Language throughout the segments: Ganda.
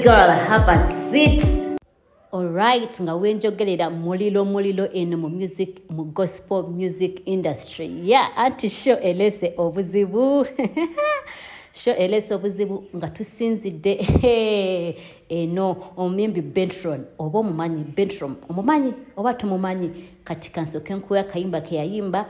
girl have a seat alright nga wenjogerera mulilo mulilo eno mu music mu gospel music industry ya yeah, anti show elese obuzibu sho elesa obuzibu nga tusinzidde eno omuyimbi bentron oba omumanyi bentrom omumanyi oba tumumanyi kati kansoke nkuwa akayimba keyayimba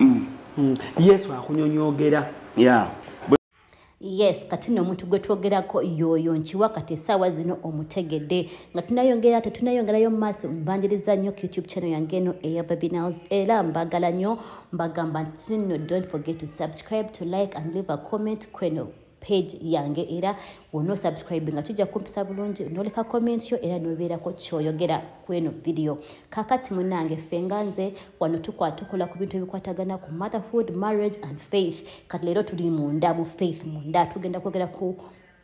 mm. mm. yesu akunyonyogera yeah. yes kati no omuntu gwe twogerako yoyo nkiwa kati esaawa zino omutegedde nga tunayongera ate tunayongerayo mumaaso mbanjiriza nnyo ku youtube channel yange eno eya babinals era mbagala nnyo mbagamba nti no don't forget to subscribe to like and leave a comment kweno page yange era wono subscribe nga kijja kumpisa bulungi noleka comment yo era nobeerako kyoyogera kweno video kakati munange fenga nze wano tukwatukola ku bintu ebikwatagana ku motherhood marriage and faith kati leero tuli munda mu faith munda tugenda kwogera ku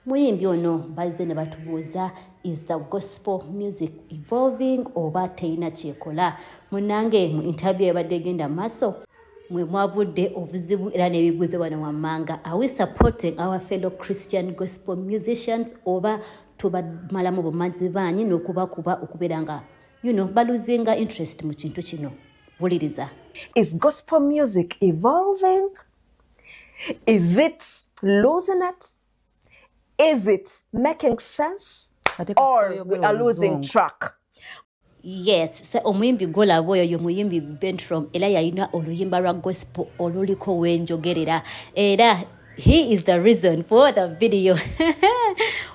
muyimbi ono bazze ne batubuuza is the gospel music evolving oba teyina kyekola munange mu interview ebadde egenda maaso mwe mwavudde obuzibu era n'ebibuuzo bano wammanga are we supporting our fellow christian gospel musicians oba tubamalamu bumazi baanyi n'okubakuba okubeera nga you know baluzinga interest mu kintu kino buliriza is gospel music evolving is it losing it is it making sense or we are losing track yes se omuyimbi golaba oyo yo muyimbi bentrom era yalina oluyimba lwa gospel oluliko wenjogerera era he is the reason for the video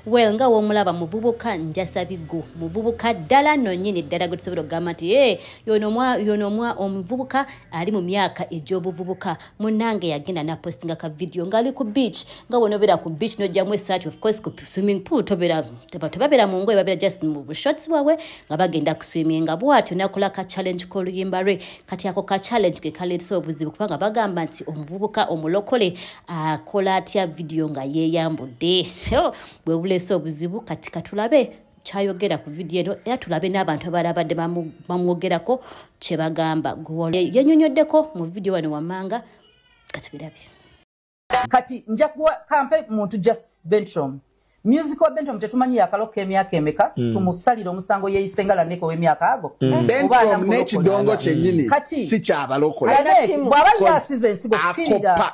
well nga womulaba muvubuka njasabigo muvubuka ddala nonyini ddala gwe tusobola okugamba nti e eh, yonomwa yonomwa omuvubuka ali mu myaka egy'obuvubuka munange yagenda napostinga ka video ngali ku beach nga wonobera ku beach nojjamu esaati ofcourse ku swimming pool tobera tebabeera mu ngoye babeera just mu bushots bwabwe nga bagenda ku swimming nga bwatyo nakola ka challenge koluyimba lwe kati ako ka challenge ke kaleetesa obuzibu kubanga bagamba nti omuvubuka omulokole akola atya video nga yeeyambudde bwe buleese obuzibu kati katulabe kyayogera ku vidiyo eno era tulabe n'abantu abaali abadde bamwogerako kye bagamba yenyonyoddeko mu vidiyo wano wammanga katubirabe kati nja kuwa kampe muntu just bentrom music wa bentrom tetumanyi yakalokka emyaka emeka mm. tumusalire omusango yeeyise nga laneka ow'emyaka ago mm. bentrom n'ekidongo kyenyini si kyabalokola bw'aba yasiza ensigo kukirira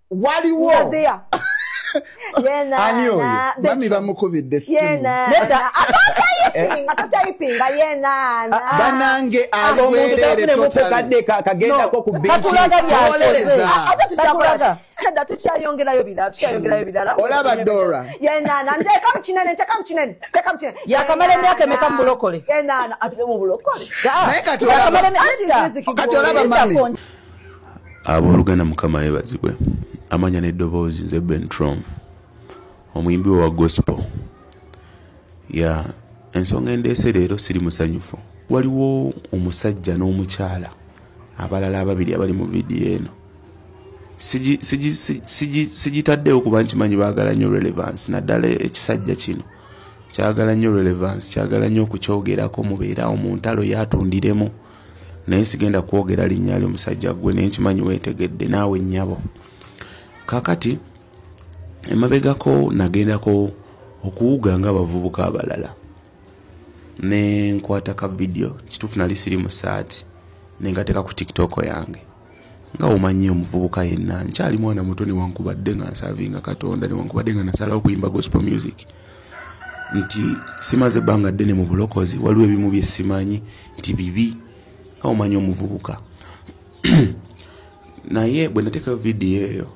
waliwo ani oyo mami bamukubidde simubanange aliwerereolaba dora yakamala emyaka emeka mubulokole naye kati olaba mami abooluganda mukama yebazibwe amanya n'eddoboozi nze bentrom omuyimbi we wa gospel ya ensonga endeese leero siri musanyufu waliwo omusajja n'omukyala abalala ababiri abali mu vidiyo eno sigitaddeewo kuba nkimanyi baagala nnyo relevance naddala ekisajja kino kyagala nnyo relevance kyagala nnyo okukyogerako mubeerawo mu ntalo yatundiremu naye sigenda kwogera linnya lyo musajja gwe naye nkimanyi weetegedde naawe nnyabo kakati emabegako nagendako okuwuga nga abavubuka abalala ne nkwata ka vidiyo kituufu nali siri mu saati nengateka ku tiktok yange nga omanyi omuvubuka yenna nkyali mwana muto newankubadde nga nsavinga katonda newankubadde nga nasalawo okuyimba gospel music nti simaze ebbanga ddene mu bulokozi waliwo ebimu bye simanyi nti bibi nga omanyi omuvubuka naye bwe nateekayo vidiyo eyo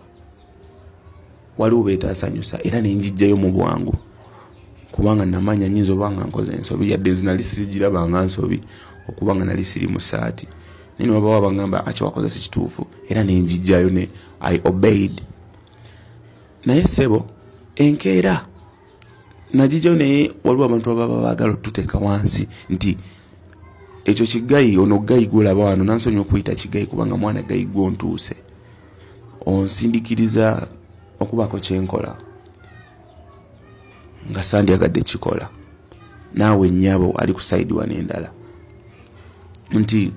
waliwo betasanyusa era nenjijjayo mu bwangu kubanga namanya nyinza oba nga nkoze ensobi yadde zinali sigirabanga nsobi okuba nga nali siri mu saati naye newabawo abagamba akiwakoze si kituufu era nenjijjayo ne i obeyed naye sebo enkeera nagijayo naye waliwo abantu ababa baagala otuteeka wansi nti ekyo kigayi ono gayi gwolaba wano nansonyi okuyita kigayi kubanga mwana gayi gwontuuse onsindikiriza okubaako kyenkola nga sandyagadde kikola naawe nyabo ali ku saidi wano endala nti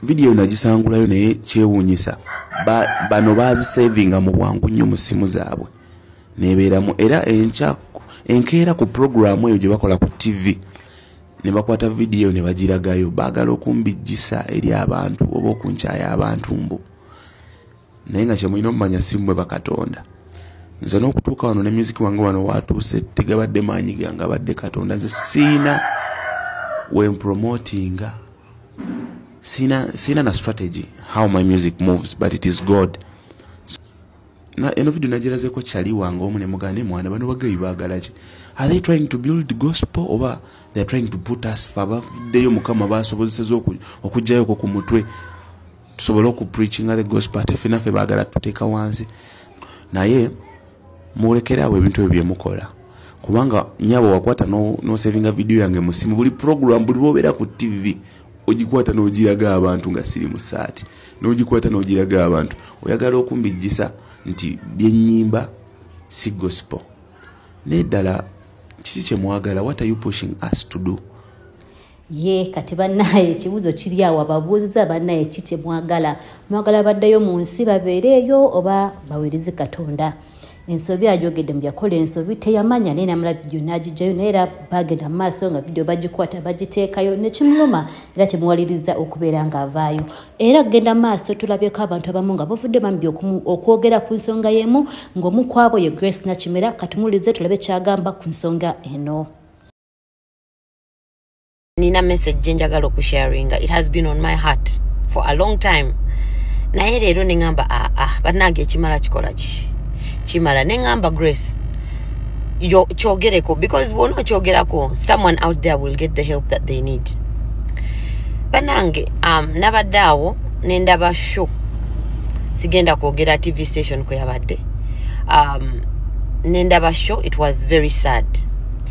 vidiyo nagisangulayo naye kyewuunyisa bano baazisavinga mu bwangu nnyo mu simu zaabwe nebeeramu era enkya enkeera ku pulogulaamu eyo gye bakola ku ttivi ne bakwata vidiyo ne bagiragayo baagala okumbijjisa eri abantu oba okunkyaya abantu mbu naye nga kyemulina omumanya si mmwe bakatonda nze n'okutuuka wano ne muziki wange wano waatuuse tegabadde maanyi gange abadde katonda nze siina wempromotinga siina siina na strategy how my music moves but it is god na eno video nagirazeko kyali wange omu ne mugane mwana bano bagayi baagala ki are they trying to build gospel oba they are trying to put us fa bavuddeyo mukama baasobozeseza okugjayo ko ku mutwe tusobole oku preachinga the gospel ate fena fe bagala tuteka wansi naye mulekere awo ebintu ebyo byemukola kubanga nyabo wakwata no, no savinga video yange musimu buli program buli bobera ku tv ogikwata nogiraga abantu nga siri musaati nogikwata nogiraga abantu oyagala okumbijjisa nti byenyimba si gospel naye ddala kiki kyemwagala what are you pushing us to do ye kati bannaye ekibuuzo kiri awo ababuuziza bannaye ki kye mwagala mwagala baddeyo mu nsi babeereeyo oba baweereze katonda ensobi ajogedde muyakola ensobi teyamanya naye namala vidiyo n'agijjayo naye era bagenda mu maaso nga vidiyo bagikwata bagiteekayo nekimuluma era kimuwaliriza okubeera ng'avaayo era kugenda maaso tulabyeko abantu abamu nga bavudde bambi okwogera ku nsonga y'emu ng'omu kwabo ye grace nakimera katumulize tulabe kyagamba ku nsonga eno nina message gye njagala okusharinga it has been on my heart for a long time naye leero ne ŋamba aa ah, ah, bannange ekimala kikola ki kimala ne ŋamba grace kyogereko because bwona okyogerako someone out there will get the help that they need bannange um, nabadde awo nendaba show sigenda kwogera tv station kweyabadde um, nendaba show it was very sad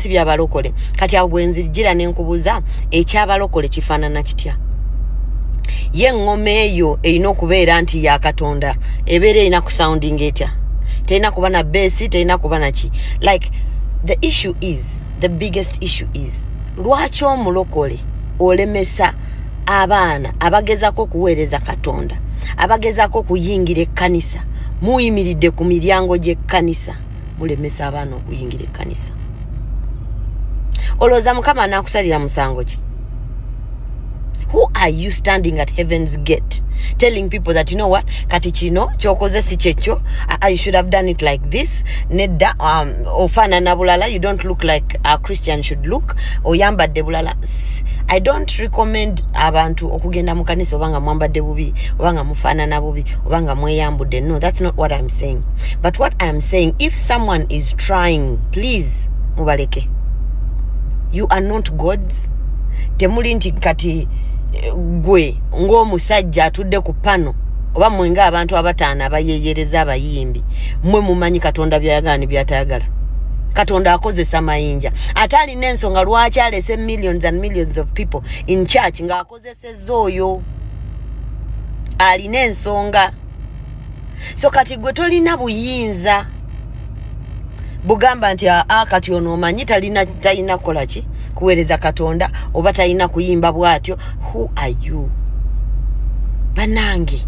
si bya balokole kati awo bwe nzijjira ne nkubuuza ekyabalokole kifaanana kitya ye eŋŋoma eyo erina okubeera nti ya katonda ebeera erina ku sounding etya terina kuba na beesi terina kuba naki like the issue is the biggest issue is lwaki omulokole olemesa abaana abagezako okuweereza katonda abagezako okuyingira ekkanisa muyimiridde ku miryango gy'ekkanisa mulemesa abaana okuyingira ekkanisa olowooza mukama anaakusalira musango ki who are you standing at heaven's gate telling people that you know what kati kino kyokoze si kyekyo i should have done it like this nedda um, ofaanana bulala you don't look like a christian should look oyambadde bulala i don't recommend abantu okugenda mu kanisa oba nga mwambadde bubi oba nga mufaanana bubi oba nga mweyambudde no that's not what i'm saying but what i am saying if someone is trying please mubaleke you are not gods temuli nti kati eh, gwe ng'omusajja atudde ku pano oba mwe ng'abantu abataano abayeyereza abayimbi mwe mumanyi katonda byayagala ne byatayagala katonda akozesa mayinja ate alina ensonga lwaki alese millions and millions of people in church nga ozeseza oyo alina ensonga so kati gwe tolina buyinza bugamba nti aa kati ono omanyi talina talina kukola ki kuweereza katonda oba talina kuyimba bwatyo who are you banange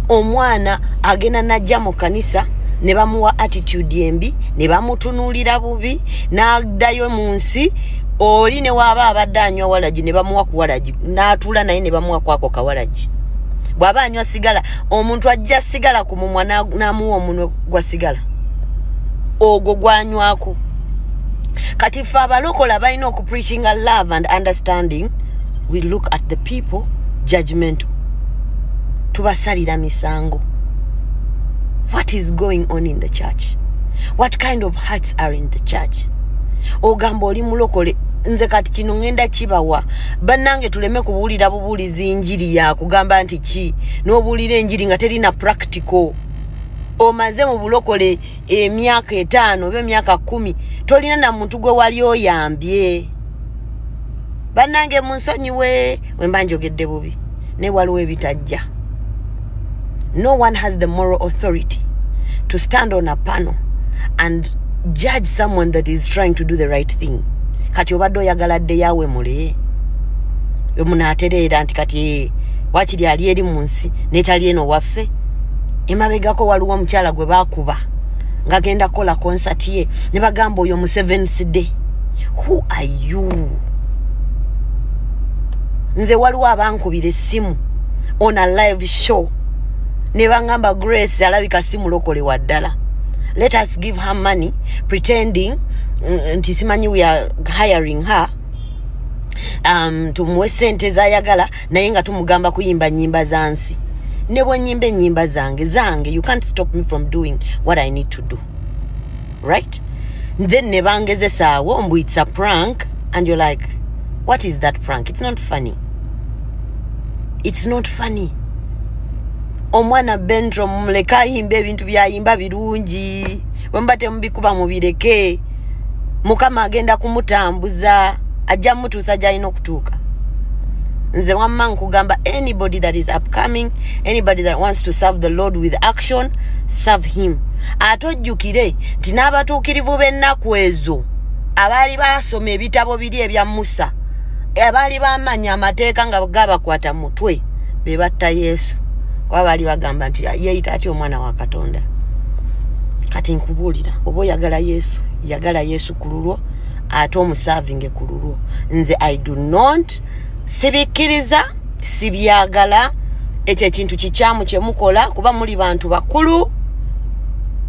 omwana agenda najja mu kanisa ne bamuwa attitude embi ne bamutunuulira bubi n'addayo mu nsi oli ne waaba abadde anywa walagi ne bamuwa ku walagi n'atuula naye ne bamuwa kwako kawalagi bw'aba anywa sigala omuntu ajja sigala ku mumwa n'amuwa omunwe gwa sigala ogwo gwanywako kati ffe abalokola balina okupreachinga love and understanding we look at the people judgmental tubasalira misango what is going on in the church what kind of heart christ are in the church ogamba oli mulokole nze kati kino ngenda kibawa bannange tuleme kubuulira bubuulizi enjiri yakugamba nti ki n'obuulira enjiri nga terina practical omaze mu bulokole emyaka etaano oba emyaka kumi tolina na muntu gwe wali oyambye bannange munsonyiwe wemba njogedde bubi naye waliwo ebitajja no one has the moral authority to stand on a panel and judge someone that is trying to do the right thing kati obadde oyagala ddeyawe mule wemunaatereera nti kati eh, wakiri ali eri mu nsi netali eno waffe emabegako waliwo omukyala gwe bakuba ngagenda kukola konsati ye ne bagamba oyo mu sevens day who are you nze waliwo abankubira essimu on a live show ne bangamba grace alabika si mulokole wa ddala let us give her money pretending mm, nti simanyi we are hiring her um, tumuwe sente zayagala naye nga tumugamba kuyimba nyimba za nsi ne bwenyimba enyimba zange zange you can't stop me from doing what i need to do right then ne bangezesaawo mbu it's a prank and you're like what is that prank it's not funny it's not funny omwana bentro mumuleke ayimba ebintu byayimba birungi wemuba temubikuba mubireke mukama agenda kumutambuza ajja mutu okutuusa gyalina okutuuka nze wamma nkugamba anybody that is upcoming anybody that wants to serve the lord with action serve him ate ojjukire nti n'abatuukirivu b'ennaku ezo abaali basoma ebitabo biri ebya musa abaali bamanya amateeka nga gabakwata mutwe be batta yesu kuba baali bagamba nti yeeyita atya omwana wa katonda kati nkubuulira oba oyagala yesu yagala yesu ku lulwo ate omusavinge ku lulwo nze i do not sibikkiriza sibyagala ekyo ekintu kikyamu kyemukola kuba muli bantu bakulu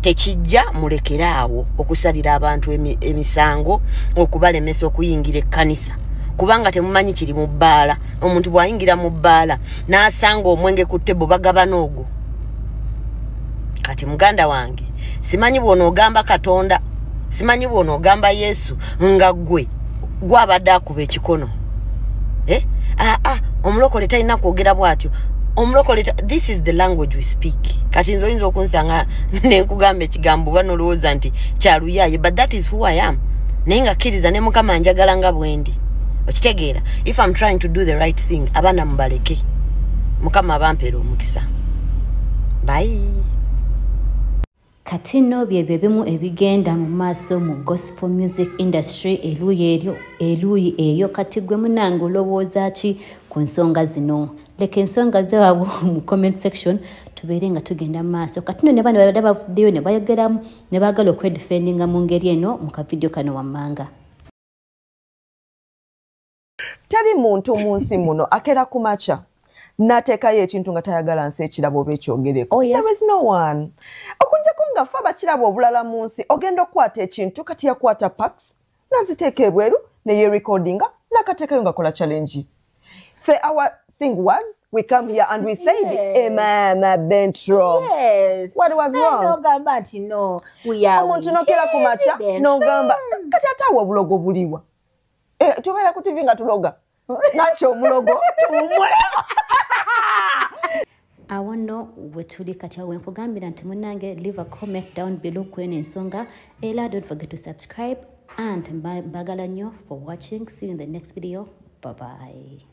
tekijja mulekere awo okusalira abantu emisango okubalemesa okuyingira ekkanisa kubanga temumanyi kiri mu bbaala omuntu bw'ayingira mu bbaala n'asanga omwenge ku tebo bagabana ogwo kati muganda wange simanyi bw'onoogamba katonda simanyi bwona ogamba yesu nga gwe gwabadde akuba ekikono eh? aa ah, ah, omulokole talina kwogera bwatyo omulokole this is the language we speak kati nze oyinza okunsanga nenkugamba ekigambo oba nolowooza nti kyaluyaye but that is who i am naye nga kkiriza ne mukama njagala nga bwendi okitegeera if im trying to do the right thing abaana mubaleke mukama abampeera omukisa bayi kati nno byebyo ebimu ebigenda mu maaso mu gospel music industry eluuyi eryo eluuyi eyo kati gwe munange olowooza ki ku nsonga zino leka ensonga zewabwe mu comment section tubeere nga tugenda mu maaso kati no ne bano babadde bavuddeyo ne bayogeramu ne baagala okwedifendinga mu ngeri eno mu kavidiyo kano wammanga teri muntu mu nsi muno akera ku makya nateekayo ekintu nga tayagala nsi ekirabo oba ekyogereko oh, okujjako nga fe abakirabo obulala mu nsi ogenda okukwata ekintu kati yakwata pax naziteeka ebweru neyerecordinga nakateekayo ngakola challenge fe our thing was we come here and we say emama eh, bentro what was wrongogamba nti no omuntu nokera ku makya nogamba kati ate awo obulogo buliwa Eh, tubeera ku tivi nga tuloga nakyo omulogo tuwumule awo nno wetuli kati awo wenkugambira nti munange live a comment down below kweno ensonga era don't forget to subscribe and mbagala nnyo for watching see you in the next video bye bye